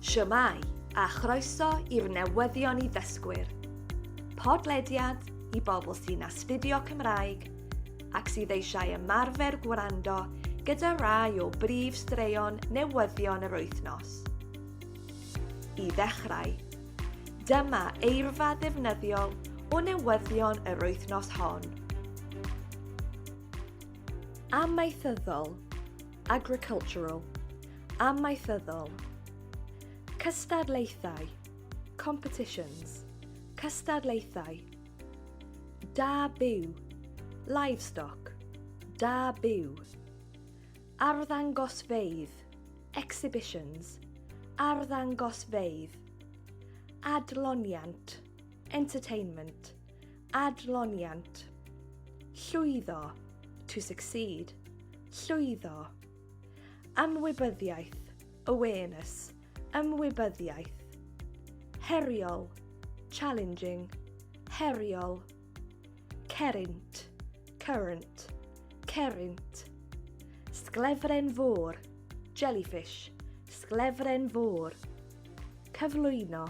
Shwmae, a chroeso i'r newyddion i ddysgwyr. Podlediad i bobl sy'n astudio Cymraeg ac sydd eisiau ymarfer gwrando gyda rai o brif straeon newyddion yr wythnos. I ddechrau, dyma eirfa ddefnyddiol o newyddion yr wythnos hon. Amaethyddol, agricultural, amaethyddol, cystadlaethau, competitions, cystadlaethau, da byw, livestock, da byw, arddangosfeydd, exhibitions, arddangosfeydd, adloniant, Entertainment, adloniant. Llwyddo, to succeed, llwyddo. Ymwybyddiaeth, awareness, ymwybyddiaeth. Heriol, challenging, heriol. Cerint, current, cerint. Sglefren fôr, jellyfish, sglefren fôr. Cyflwyno,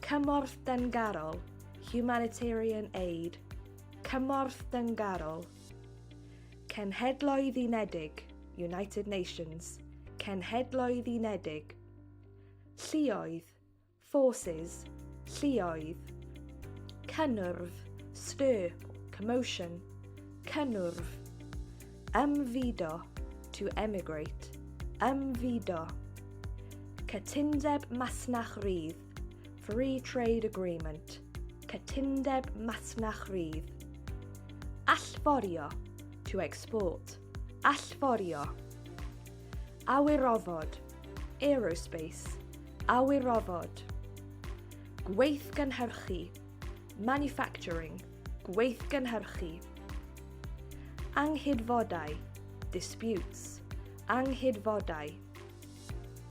Cymorth Dyngarol, Humanitarian Aid, Cymorth Dyngarol, Cenhedloedd Unedig, United Nations, Cenhedloedd Unedig, Lluoedd, Forces, Lluoedd, Cynnwrf, Stir, Commotion, Cynnwrf, Ymfudo, to emigrate. Ymfudo. Cytundeb masnach rydd, free trade agreement. Cytundeb masnach rydd. Allforio, to export. Allforio. Awyrofod, aerospace. Awyrofod. Gweithgynhyrchu, manufacturing. Gweithgynhyrchu. Anghydfodau, disputes, anghydfodau.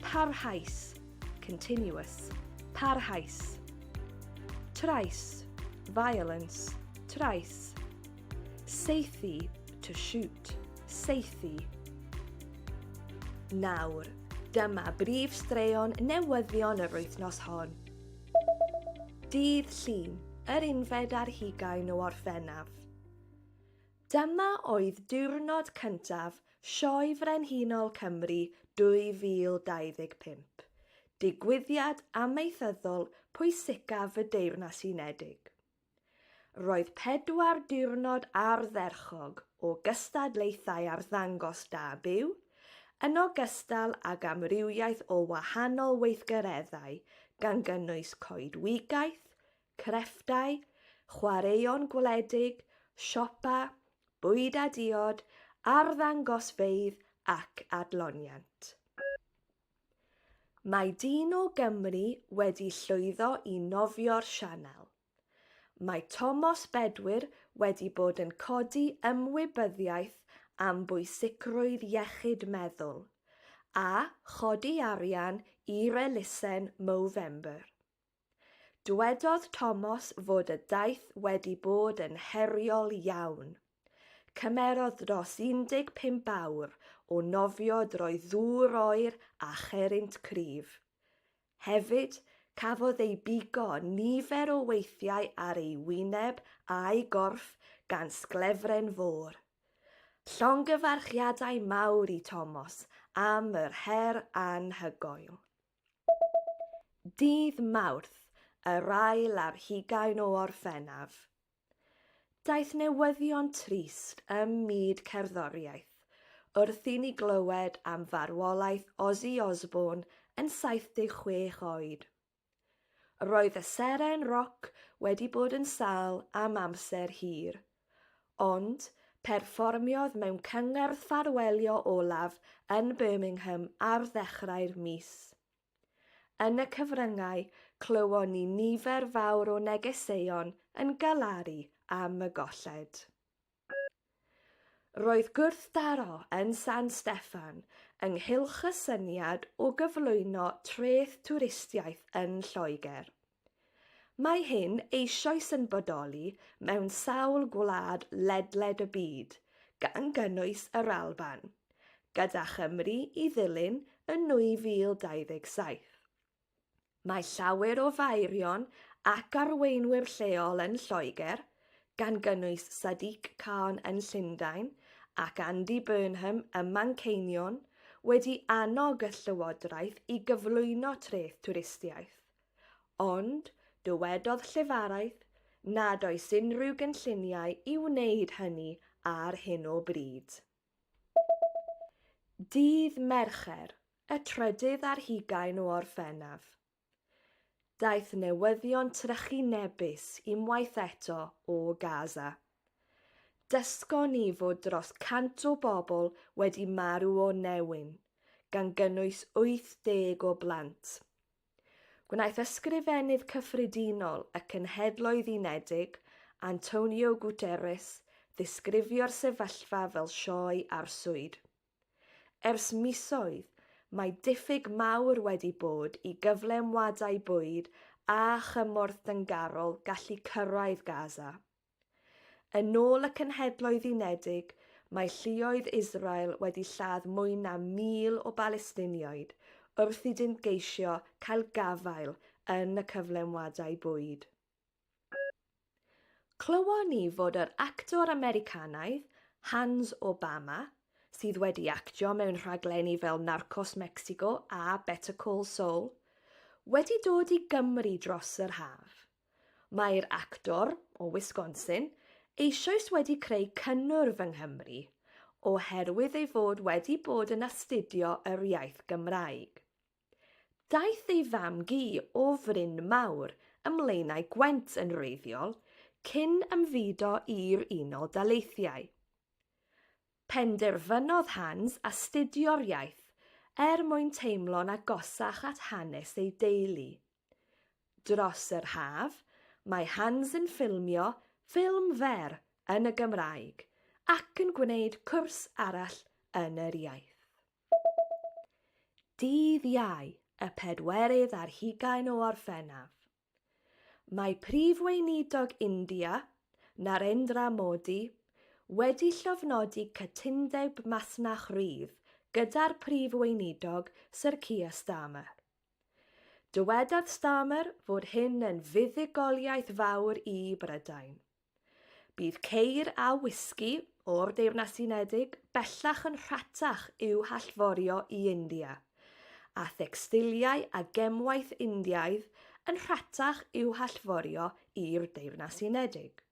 Parhaus, continuous, parhaus. Trais, violence, trais. Seithi, to shoot, seithi. Nawr, dyma brif straeon newyddion yr wythnos hon. Dydd Llun, yr unfed ar hugain o Orffennaf. Dyma oedd diwrnod cyntaf Sioe Frenhinol Cymru 2025, digwyddiad amaethyddol pwysicaf y Deyrnas Unedig. Roedd pedwar diwrnod ardderchog o gystadlaethau arddangos da byw, yn ogystal ag amrywiaeth o wahanol weithgareddau gan gynnwys coedwigaeth, crefftau, chwaraeon gwledig, siopa, bwyd a diod, arddangosfeydd ac adloniant. Mae dyn o Gymru wedi llwyddo i nofio'r Sianel. Mae Tomos Bedwyr wedi bod yn codi ymwybyddiaeth am bwysicrwydd iechyd meddwl, a chodi arian i'r elusen Movember. Dywedodd Tomos fod y daith wedi bod yn heriol iawn. Cymerodd dros 15 awr o nofio drwy ddŵr oer a cherrynt cryf. Hefyd, cafodd ei bigo nifer o weithiau ar ei wyneb a'i gorff gan sglefren fôr. Llongyfarchiadau mawr i Tomos am yr her anhygoel. Dydd Mawrth, yr ail ar hugain o Orffennaf. Daeth newyddion trist ym myd cerddoriaeth wrth i ni glywed am farwolaeth Ozzy Osbourne yn 76 oed. Roedd y seren roc wedi bod yn sâl am amser hir, Ond, perfformiodd mewn cyngerdd ffarwelio olaf yn Birmingham ar ddechrau'r mis. Yn y cyfryngau, clywon ni nifer fawr o negeseuon yn galaru am y golled. Roedd gwrthdaro yn San Steffan ynghylch y syniad o gyflwyno treth twristiaeth yn Lloegr. Mae hyn eisoes yn bodoli mewn sawl gwlad ledled y byd, gan gynnwys yr Alban, gyda Chymru i ddilyn yn 2027. Mae llawer o faerion ac arweinwyr lleol yn Lloegr, gan gynnwys Sadiq Khan yn Llundain ac Andy Burnham ym Manceinion, wedi annog y llywodraeth i gyflwyno treth twristiaeth. Ond, dywedodd llefaraeth nad oes unrhyw gynlluniau i wneud hynny ar hyn o bryd. Dydd Mercher, y trydydd ar hugain o Orffennaf, daeth newyddion trychinebus unwaith eto o Gaza. Dysgon ni fod dros 100 o bobl wedi marw o newyn, gan gynnwys 80 o blant. Gwnaeth Ysgrifennydd Cyffredinol y Cenhedloedd Unedig, Antonio Guterres, ddisgrifio'r sefyllfa fel sioe arswyd. Ers misoedd, mae diffyg mawr wedi bod i gyflenwadau bwyd a chymorth dyngarol gallu cyrraedd Gaza. Yn ôl y Cenhedloedd Unedig, mae lluoedd Israel wedi lladd mwy na 1,000 o Balestinioed wrth iddynt geisio cael gafael yn y cyflenwadau bwyd. Clywon ni fod yr actor Americanaidd, Hans Obama, sydd wedi actio mewn rhaglenni fel Narcos Mexico a Better Call Saul, wedi dod i Gymru dros yr haf. Mae'r actor, o Wisconsin, eisoes wedi creu cynnwrf yng Nghymru, oherwydd ei fod wedi bod yn astudio yr iaith Gymraeg. Daeth ei fam-gu o Fryn Mawr ym Mlaenau Gwent yn wreiddiol cyn ymfudo i'r Unol Daleithiau. Penderfynodd Hans astudio'r iaith er mwyn teimlo'n agosach at hanes ei deulu. Dros yr haf, mae Hans yn ffilmio ffilm fer yn y Gymraeg ac yn gwneud cwrs arall yn yr iaith. Dydd Iau, y pedwerydd ar hugain o Orffennaf. Mae Prif Weinidog India, Narendra Modi, wedi llofnodi cytundeb masnach rydd gyda'r Prif Weinidog Sir Keir Starmer. Dywedodd Starmer fod hyn yn fuddugoliaeth fawr i Brydain. Bydd ceir a wisgi o'r Deyrnas Unedig bellach yn rhatach i'w hallforio i India, a thecstiliau a gemwaith Indiaidd yn rhatach i'w hallforio i'r Deyrnas Unedig.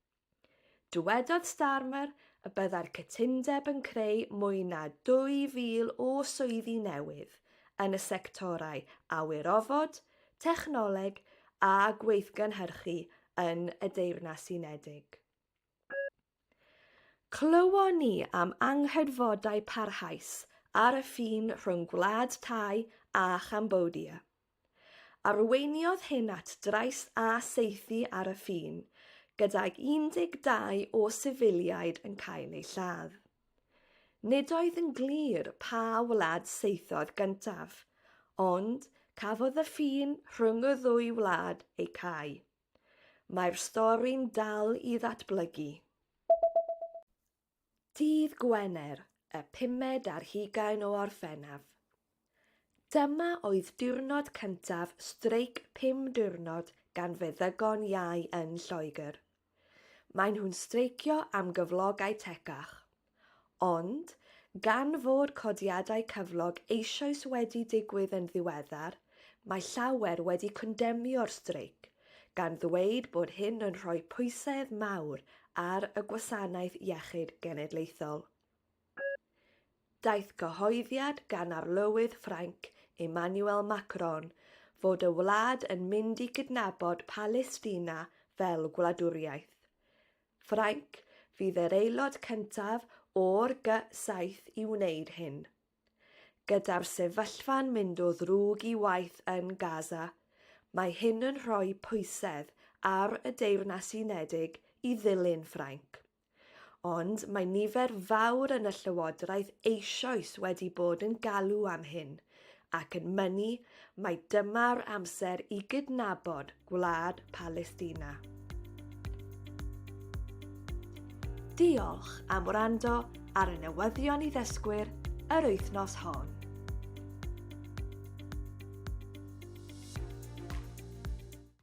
Dywedodd Starmer y byddai'r cytundeb yn creu mwy na 2,000 o swyddi newydd yn y sectorau awyrofod, technoleg a gweithgynhyrchu yn y Deyrnas Unedig. Clywon ni am anghydfodau parhaus ar y ffin rhwng Gwlad Thai a Chambodia. Arweiniodd hyn at drais a saethu ar y ffin, gydag 12 o sifiliaid yn cael eu lladd. Nid oedd yn glir pa wlad saethodd gyntaf, ond cafodd y ffin rhwng y ddwy wlad ei cau. Mae'r stori'n dal i ddatblygu. Dydd Gwener, y pumed ar hugain o Orffennaf. Dyma oedd diwrnod cyntaf streic pum diwrnod gan feddygon iau yn Lloegr. Maen nhw'n streicio am gyflogau tecach. Ond, gan fod codiadau cyflog eisoes wedi digwydd yn ddiweddar, Mae llawer wedi condemnio'r streic, gan ddweud bod hyn yn rhoi pwysedd mawr ar y Gwasanaeth Iechyd Genedlaethol. Daeth cyhoeddiad gan Arlywydd Ffrainc Emmanuel Macron fod y wlad yn mynd i gydnabod Palestina fel gwladwriaeth. Ffrainc fydd yr aelod cyntaf o'r Gy-7 i wneud hyn. Gyda'r sefyllfa'n mynd o ddrwg i waeth yn Gaza, mae hyn yn rhoi pwysedd ar y Deyrnas Unedig i ddilyn Ffrainc. Ond mae nifer fawr yn y llywodraeth eisoes wedi bod yn galw am hyn ac yn mynnu Mae dyma'r amser i gydnabod gwlad Palestina. Diolch am wrando ar y newyddion i ddysgwyr yr wythnos hon.